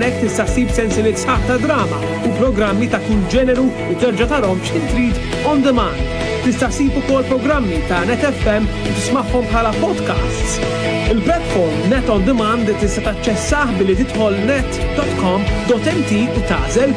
Nek tista' ssib sensilit sħaħ ta' drama u programmi ta' kull ġeneru u terġa' tarhom x'ħin trid on demand. Tista' ssib ukoll programmi ta' Net FM u tismagħhom bħala podcasts. Il-platform Net on Demand tista' taċċessah billi tidħol net.com.mt u tażel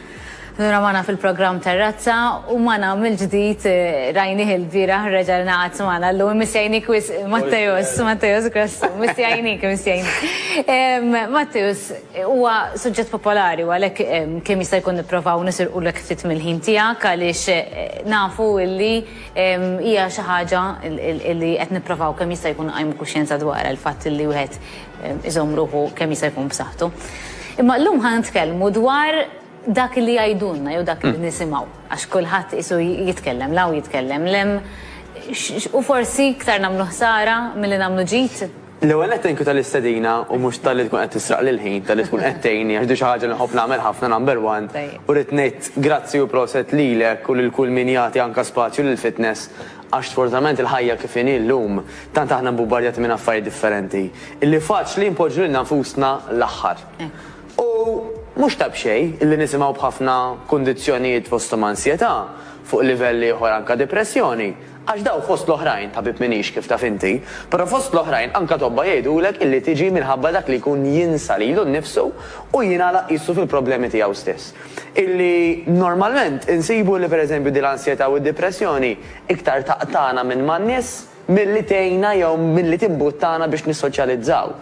Nura magħna fil-programm Terrazza u magħna mill-ġdid rajnih il-bieraħ reġa' ngħaqad magħna llum missjajnik wis Matteus, Matteus Grassu, missjajnik, missjajnik. Matteus, huwa suġġett popolari u għalhekk kemm jista' jkun nipprovaw nisirqulek ftit mill-ħin tiegħek għaliex nafu li hija xi ħaġa li qed nipprovaw kemm jista' jkun nqajmu kuxjenza dwarha l-fatt li wieħed iżomm ruħu kemm jista' jkun b'saħħtu. Imma llum ħa nitkellmu dwar dak li jgħidulna jew dak li nisimgħu għax kulħadd qisu jitkellem l-hawn jitkellem l-hemm u forsi iktar nagħmlu ħsara milli nagħmlu ġid. L-ewwel nett thank you tal-istedina u mhux talli tkun qed tisraqli l-ħin, talli tkun qed tgħinni għax din xi ħaġa li nħobb nagħmel ħafna number one u rrid ngħid grazzi u proset lilek u lil kull min jagħti anke spazju lill-fitness Għax sfortunatament il-ħajja kif inhi llum, tant aħna mbubbardjati minn affarijiet differenti, illi faċli npoġġu lilna nfusna l-aħħar. U mhux ta' b'xejn illi nisimgħu b'ħafna kundizzjonijiet fosthom ansjetà, fuq livell ieħor anke dipressjoni, għax dawn fost l-oħrajn, tabib m'iniex kif taf inti, però fost l-oħrajn anke tobba jgħidulek illi tiġi minħabba dak li jkun jinsa lilu nnifsu u jingħalaq qisu fil-problemi tiegħu stess. illi normalment insibu li pereżempju din l-ansjetà u d-dipressjoni iktar taqtagħna minn man-nies milli tgħinna jew milli timbuttana biex nissoċjalizzaw.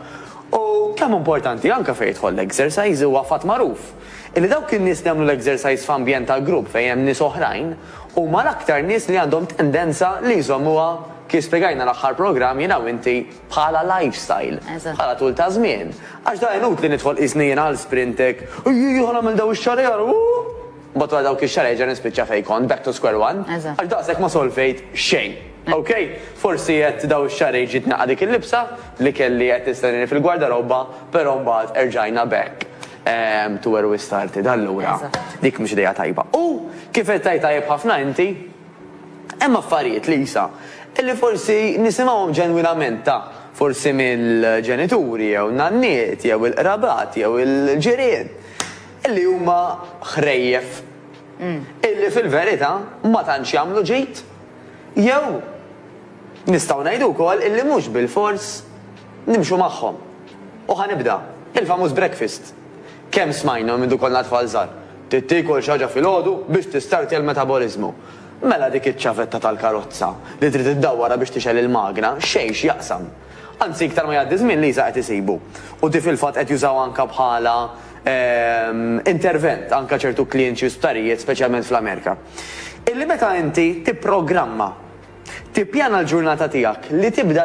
U kemm importanti anke fejn jidħol l-exercise huwa fatt magħruf illi dawk in-nies li jagħmlu l-exercise f'ambjent ta' grupp fejn hemm nies oħrajn huma l-aktar nies li għandhom tendenza li jżommuha kif spjegajna l-aħħar programm jiena u inti bħala lifestyle, bħala tul ta' żmien. Għax da inutli nidħol qisni jiena għal Sprintec, ejjejja ħa nagħmel daw ix-xahar ieħor, uhu! Mbagħad wara dawk ix-xahar erġa' nispiċċa fejn kont, back to square one, għax daqshekk ma solvejt xejn. Ok, forsi qed daw ix-xahrejn ġiet naqgħa dik il-libsa li kelli qed tistennini fil-gwardarobba, però mbagħad erġajna back to where we started. Allura, dik mhux idea tajba. U kif qed tgħid tajjeb ħafna inti, Hemm affarijiet, Lisa, li forsi nisimgħuhom ġenwinament ta' forsi mill-ġenituri jew nanniet jew il-qrabat jew il-ġirien li huma ħrejjef illi fil-verità ma tantx jagħmlu ġid jew nistgħu ngħidu wkoll illi mhux bilfors nimxu magħhom. U ħa nibda, il-famuż breakfast. Kemm smajna minn ikollna tfal żgħar, trid tiekol xi ħaġa filgħodu biex tistartja l-metaboliżmu. Mela dik iċ-ċavetta tal-karozza li trid iddawwarha biex tixgħel il-magna xejn x'jaqsam. Anzi iktar ma jgħaddi żmien l-ISA qed isibu. U di fil-fatt qed jużawha anke bħala intervent anke ċertu klinċi u sptarijiet speċjalment fl-Amerika. Illi meta inti tipprogramma, tippjana l-ġurnata tiegħek li tibda,